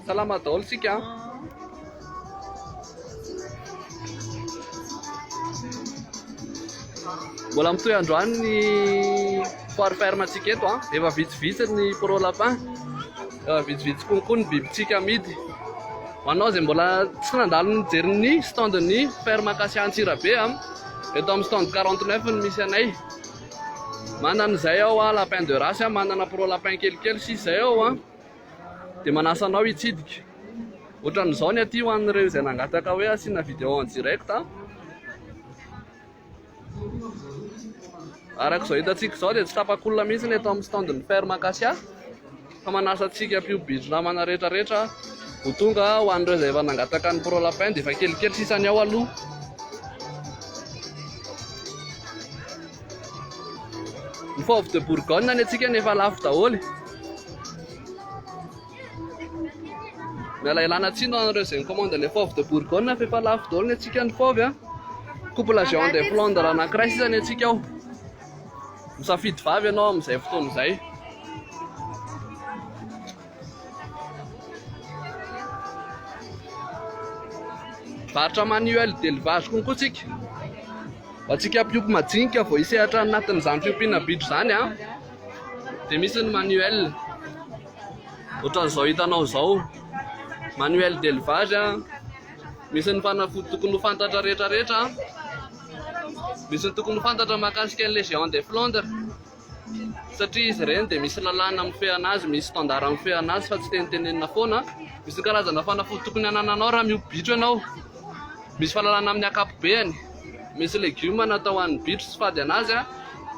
Salama daholo tsika. Mbola mitohy androany ny foire ferme antsika eto an. Efa vitsivitsy ny pro lapin. Efa vitsivitsy konkoa ny bibitsika amidy. Ho anao izay mbola tsy nandalo nijery ny stand ny ferme Acacia Antsirabe an. Eto amin'ny stand 49 ny misy anay. Manana izay ao an, lapin de race an, manana pro lapin kelikely sisa izay ao an, dia manasa anao hitsidika. Ohatran'izao ny aty ho an'ireo izay nangataka hoe asiana vidéo en direct an. Araka izao hitantsika izao dia tsy tapak'olona mihitsy ny eto amin'ny stand-n'ny ferme Acacia. Fa manasa antsika mpiompy bindronamana rehetra rehetra ho tonga ho an'ireo izay efa nangataka ny pro lapin dia efa kelikely sisa ny ao aloha. Ny fauve de bourgogne ny antsika ny efa lafo daholo. Miala ilana tsiny ho an'ireo izay nikomandy ilay fauve de bourgogne fa efa lafo daholo ny antsika ny fauve a. Couple géant de Flandre anankiray sisa ny antsika ao. Misafidy vavy ianao amin'izay fotoana izay. Varotra manuel d'élevage konko tsika. Ho antsika mpiompy majinika vao hisehatra anatin'izany fiompiana bitro izany a. Dia misy ny manuel. Ohatran'izao hitanao izao. Manuel d'élevage a. Misy ny fanafody tokony ho fantatra rehetra rehetra. Misy ny tokony ho fantatra mahakasika ny les géants des Flandres satria izy ireny dia misy lalàna mifehana azy, misy standard mifehana azy fa tsy tenitenenina foana. Misy ny karazana fanafody tokony hanananao raha miompy bitro ianao, misy fahalalana amin'ny ankapobeany, misy legioma natao ho an'ny bitro sy fady an'azy,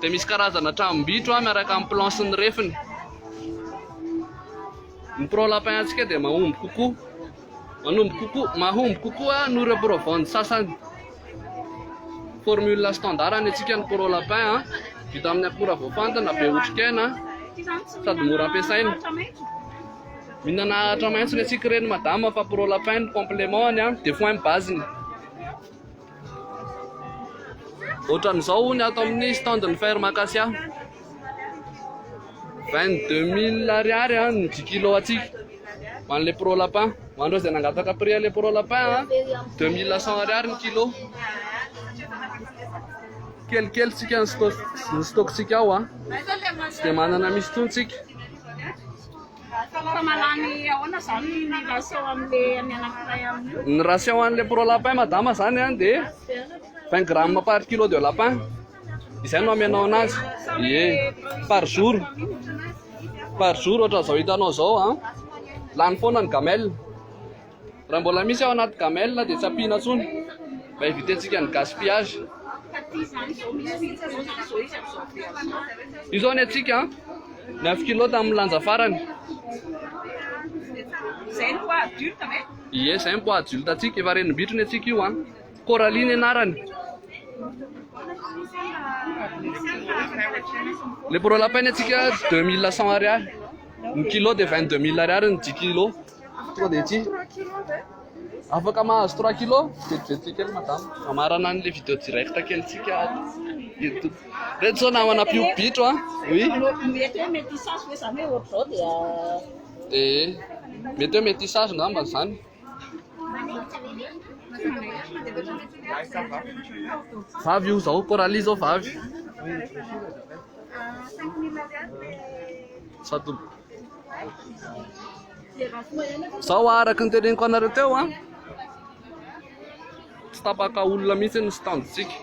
dia misy karazana tranom-bitro miaraka amin'ny plan sy ny refiny. Ny pro lapin antsika dia mahomby kokoa. Manombo kokoa, mahomby kokoa noho ireo provandy sasany. Formule standard ny antsika ny Pro Lapin, ah. vita amin'ny akora voafantina, be otrikaina, sady mora ampiasaina. Mihinana ahitra maitso ny antsika ireny madama fa Pro Lapin ny complément-ny, ah. de foin base-ny. Ohatran'izao hono ato amin'ny stand ny ferme acacia. 22000 ariary an ny 10 kilo atsika. Ho an'ilay pro lapin. Ho an'ireo izay nangataka prix an'ilay pro lapin an. 2100 ariary ny kilo. Kelikely tsika ny stock ny stock tsika ao an. Tsy dia manana misy tsika. Ny ration an'ilay pro lapin madama izany an dia 20 grammes par kilo de lapin izay no amenao anazy ie par jour par jour ohatran'izao hitanao izao an lany foana ny gamelle Raha mbola misy ao anaty gamelle dia tsy ampiana intsony mba hivitentsika ny gaspillage. Io zao ny antsika an. Ny avy kilo tamin'ny lanja farany. Zay ny poids adulte ve? Ie, zay ny poids adulte antsika. Efa renim-bitro ny antsika io an. Coralie ny anarany. Le pro lapin ny antsika 2100 ariary. Ny kilo dia 22000 ariary ny 10 kilo. Tonga dia ity. Afaka mahazo 3 kilo? Vetivety kely madame. Amarana an'ilay vidéo direct kelintsika ato YouTube. Reto zao namana mpio bitro an. Oui. Mety hoe mety isazo hoe zany hoe ohatr'izao dia Eh, mety hoe mety isazo ngamba zany. Vavy io zao, Coralie zao vavy. Sado Zao araka ny teneniko anareo teo an. Tsy tapaka olona mihitsy ny standintsika.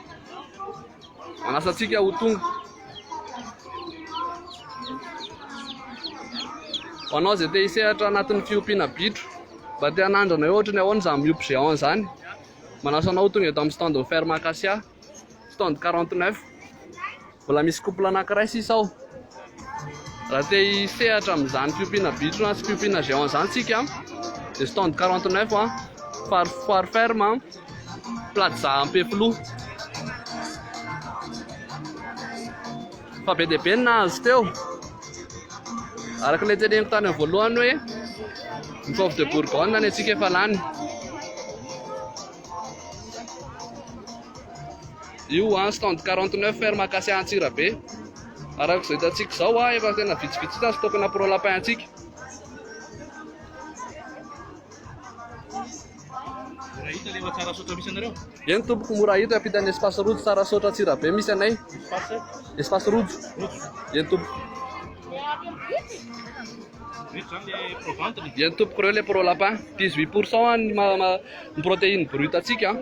Manasa antsika ho tonga. Ho anao izay te hisehatra anatin'ny fiompiana bitro, mba te hanandrana hoe ohatry ny ahoana izany miompy géant izany. Manasa anao ho tonga eto amin'ny standin'ny ferme Acacia. stand 49 mbola misy couple anankiray sisa ao raha te hisehatra amin'izany fiompiana bitro sy fiompiana géant izany tsika dia stand 49 a far far ferme plaza ampefiloha fa be dia be ny nahazo teo araka ilay teneniko tany amin'ny voalohany hoe ny fauve de bourgogne ny antsika efa lany Io an stand 49 ferme Acacia Antsirabe. Araka izay hitantsika izao an efa tena vitsivitsy ny stock na pro lapin antsika. Eny tompoko mora hita ampitan'ny espace rojo tsara sotra Antsirabe misy anay. Espace rojo. Eny tompoko. Vita zany le pro ventre. Dia ny tompoko reo le pro lapin. 18 pourcent an ny ma, ma, ny protéine brute antsika.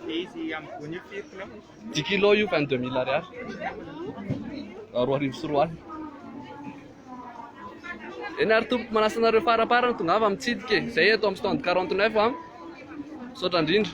Dia izy amin'ny gony io firy kilo? 10 kilo io 22 mille ariary. Roa arivo sy roa alina. Eny ary tompoko manasa anareo faraparany tongava mitsidika e. Zay eto amin'ny stand 49 an. Misaotra indrindra.